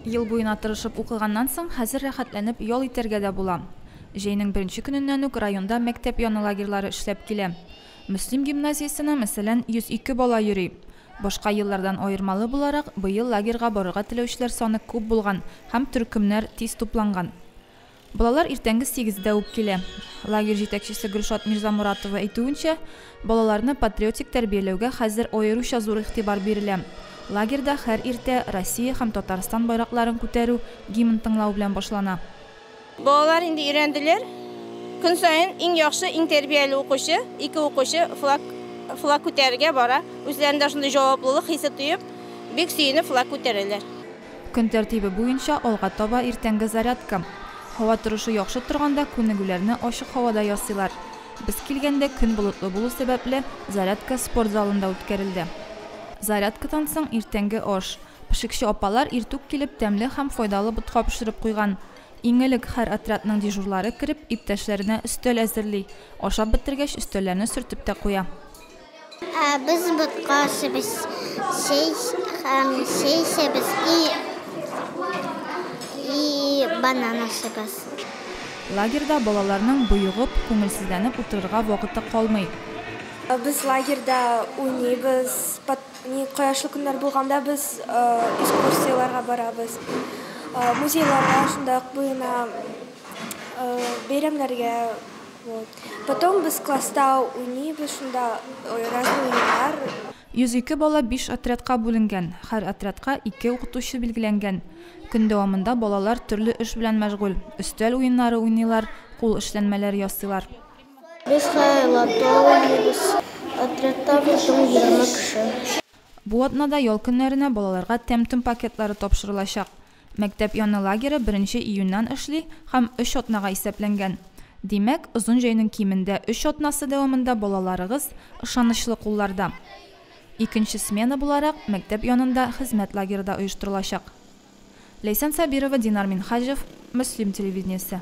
Ел буена тырышып укыганнан соң, хәзер рәхәтләнеп ял итәргә дә була. Җәйнең беренче көненнән үк районда мәктәп яны лагерьлары эшләп килә. Мөслим гимназиясенә, мәсәлән, 102 бала йөри. Башка еллардан аермалы буларак, быел лагерьга барырга теләүчеләр саны күп булган һәм төркемнәр тиз тупланган. Балалар иртәнге сигездә үк килә. Лагерь җитәкчесе Гөлшат Мирзамуратова әйтүенчә, балаларны патриотик тәрбияләүгә хәзер аеруча зур игътибар бирелә. Лагерьда һәр иртә Россия һәм Татарстан байракларын күтәрү, гимн тыңлау белән башлана. Балалар инде өйрәнделәр. Көн саен иң яхшы, иң тәрбияле укучы, ике укучы флаг флаг күтәрергә бара. Үзләрендә шундый җаваплылык хисе тоеп, бик сөенеп флаг күтәрәләр. Көн тәртибе буенча алга таба иртәнге зарядка. Һава торышы яхшы торганда күнегүләрне ачык һавада ясыйлар. Без килгәндә көн болытлы булу сәбәпле, зарядка спорт залында үткәрелде. Зарядкадан соң иртәнге аш. Пешекче апалар иртүк килеп тәмле һәм файдалы ботка пешереп куйган. Иң элек һәр отрядның дежурлары кереп, иптәшләренә өстәл әзерли. Ашап бетергәч, өстәлләрне сөртеп тә куя. Ә без ботка ашыйбыз, чәй һәм чәй эчәбез и и банан ашыйбыз. Лагерьда балаларның боегып, күңелсезләнеп утырырга вакыты калмый. Без лагерьда уйныйбыз, пот ни кояшлы көннәр булганда без экскурсияләргә барабыз, музейларга, шунда ук буена, бәйрәмнәргә. Потом без класста уйныйбыз, шунда разный уеннар. 102 бала биш отрядка бүленгән, һәр отрядка ике укытучы билгеләнгән. Көн дәвамында балалар төрле эш белән мәшгуль, өстәл уеннары уйныйлар, кул эшләнмәләр ясыйлар. Без һәр лото уйныйбыз. Отрядта без соң егерме кеше. Бу атнада ял көннәренә балаларга тәм-том пакетлары тапшырылачак. Мәктәп яны лагере беренче июньнән эшли һәм өч атнага исәпләнгән. Димәк, озын җәйнең кимендә өч атнасы дәвамында балаларыгыз ышанычлы кулларда. Икенче смена буларак мәктәп янында хезмәт лагеры да оештырылачак. Ләйсән Сабирова, Динар Минһаҗев, Мөслим телевидениесе.